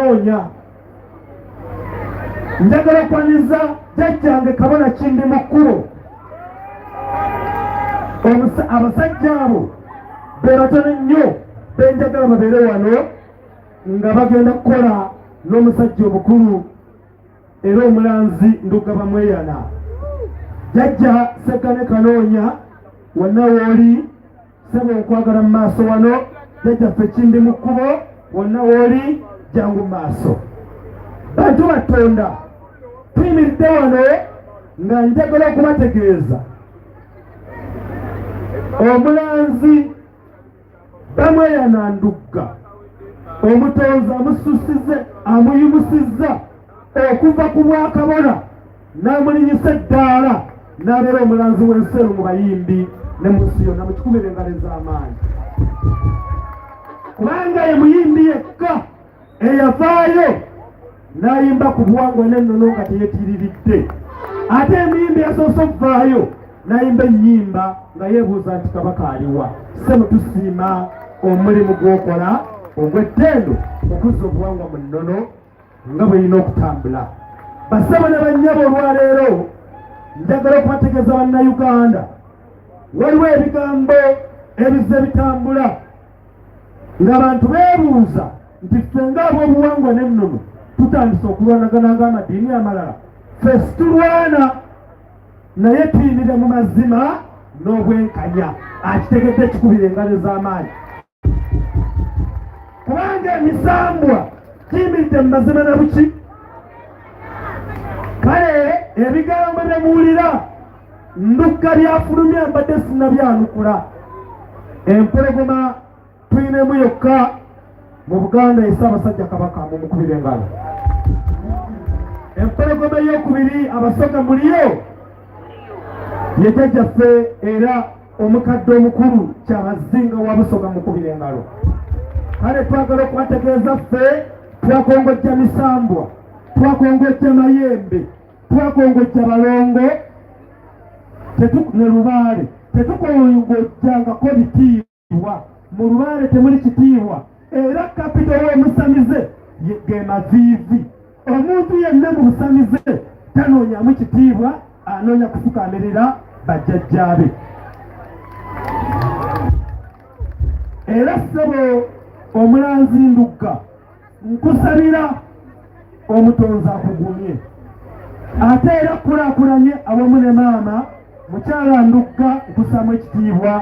onya njagala kwanyiza jajjange kabona kindi mu kkubo abasajja abo be batone nnyo benjagala babeere wano nga bagenda kukola n'omusajja obukulu era omulanzi ndugaba mweyana jajja sekane kanoonya wonna wooli sebo nkwagala mu maaso wano jajjaffe ekindi mu kkubo wonna wooli jangu mu maaso bantu batonda tuyimiridde wano nga njagala okubategeeza omulanzi bamweyana ndugga omutonzi amususize amuyimusiza okuva ku bwakabona n'amulinyisa eddaala n'abeera omulanzi w'enseru mu bayimbi ne mu nsi yonna mukikumira engalo ez'amaanyi kubanga ye muyimbi yekka eyavaayo n'ayimba ku buwangwa n'ennono nga teyetiriridde ate emiyimbi yasoose okuvaayo n'ayimba ennyimba nga yeebuuza nti kabaka aliwa ssebo tusiima omulimu gw'okola ogw'ettendo okuzza obuwangwa mu nnono nga bwerina okutambula basabo ne bannyabo olwaleero njagala okubategeeza bannayuganda waliwo ebigambo ebizze bitambula ng'abantu beebuuza nti ffe ng'ab'obuwangwa n'ennono tutandise okulwanagana ng'amadiini amalala ffe situlwana naye tuyimire mu mazima n'obwenkanya akitegedde kikubira engalo ez'amaanyi kubanga emisambwa giyimiridde mu mazima na buki kale ebigambo bye muwulira ndukka byafulumye mbadde sinabyanukula empologoma tulinemu yokka mu buganda esa abasajja kabaka mumukubira engalo empologoma eyokubiri abasoga muliyo yejajjaffe era omukadde omukulu kyabazinga wa busoga mukubira engalo kale twagala okubategeeza ffe twakongojja misambwa twakongojja mayembe twakongojja balongo ne lubaale tetukongojjangako bitiibwa mu lubaale temuli kitiibwa era kapito w'omusamize ge maviivi Omuntu yenna mu busamize tanoonyamu kitiibwa, anoonya kufukaamirira bajjajjaabe. Era ssebo omulanzi Ndugga, nkusabira omutonzi akugumye ate era kukulakulanye awamu ne maama mukyala Ndugga nkusaamu ekitiibwa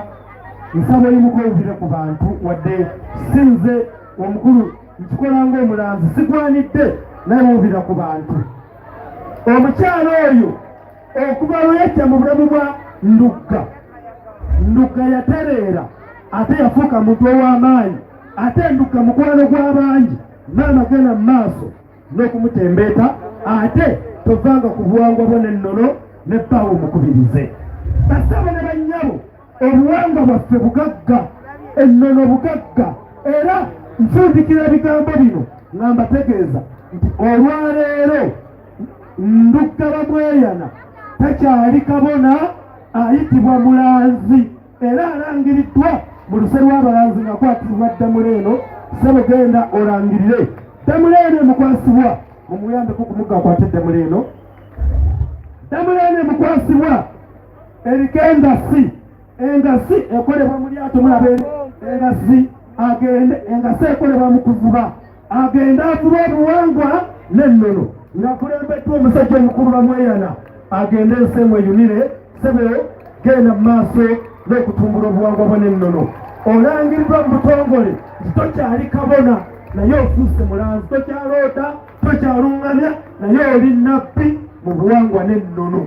nsaba oyimuka owulire ku bantu wadde sinze omukulu nkikola ng'omulanzi sigwanidde naye wubira ku bantu omukyalo oyo okuva lweyajja mu bulamu bwa ndugga ndugga yatereera ate yafuuka muntu ow'amaanyi ate ndugga mukwano gw'abangi maama genda mu maaso n'okumutembeeta ate tovanga ku buwangwa bwo n'ennono ne bbaawo mukubirize basaba ne bannyabo obuwangwa bwaffe bugagga ennono bugagga era nfundikira ebigambo bino nga mbategeeza nti olwaleero nduggaba mweyana takyali kabona ayitibwa mulanzi era alangiriddwa mu luse lw'abalanzi nga kwatibwa ddamula eno sebo genda olangirire ddamula eno emukwasibwa mumuyambeko kumugakwate ddamula eno ddamula eno emukwasibwa eriko engasi engasi ekolebwa mu lyato mulaba engasi agende engasi ekolebwa mu kuvuba agende avuba obuwangwa n'ennono ngakulembeddwa omusajja omukulu bamweyana agende ensi emweyunire sebe genda mu maaso n'okutumbula obuwangwa bwo n'ennono olangiriddwa mu butongole nti tokyali kabona naye ofuuse mulanzi tokyaloota tokyaluŋŋamya naye oli nabbi mu buwangwa n'ennono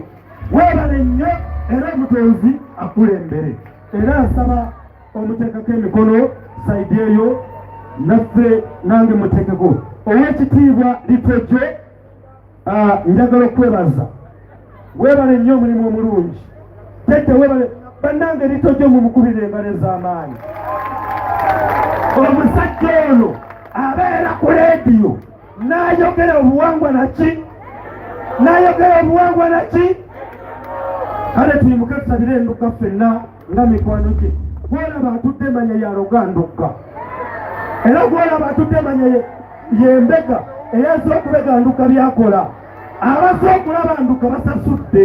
Weebale nnyo era omutonzi akulembere era nsaba omuteekako emikono saidi eyo naffe nange muteekeko ow'ekitiibwa litwejje ah, njagala okwebaza weebale nnyo omulimu omulungi tete weebale bannange litwejje mumukubira engalo ez'amaanyi omusajja ono abeera ku leediyo Nayogera obuwangwa naki? Nayogera obuwangwa naki? Kale tuyimuke tusabire endugga ffenna nga mikwano gye. Gwolaba atudde manya yaloga ndugga, era gwolaba atudde manya yembega eyaza okubega ndugga byakola. Abaze okulaba ndugga basasudde.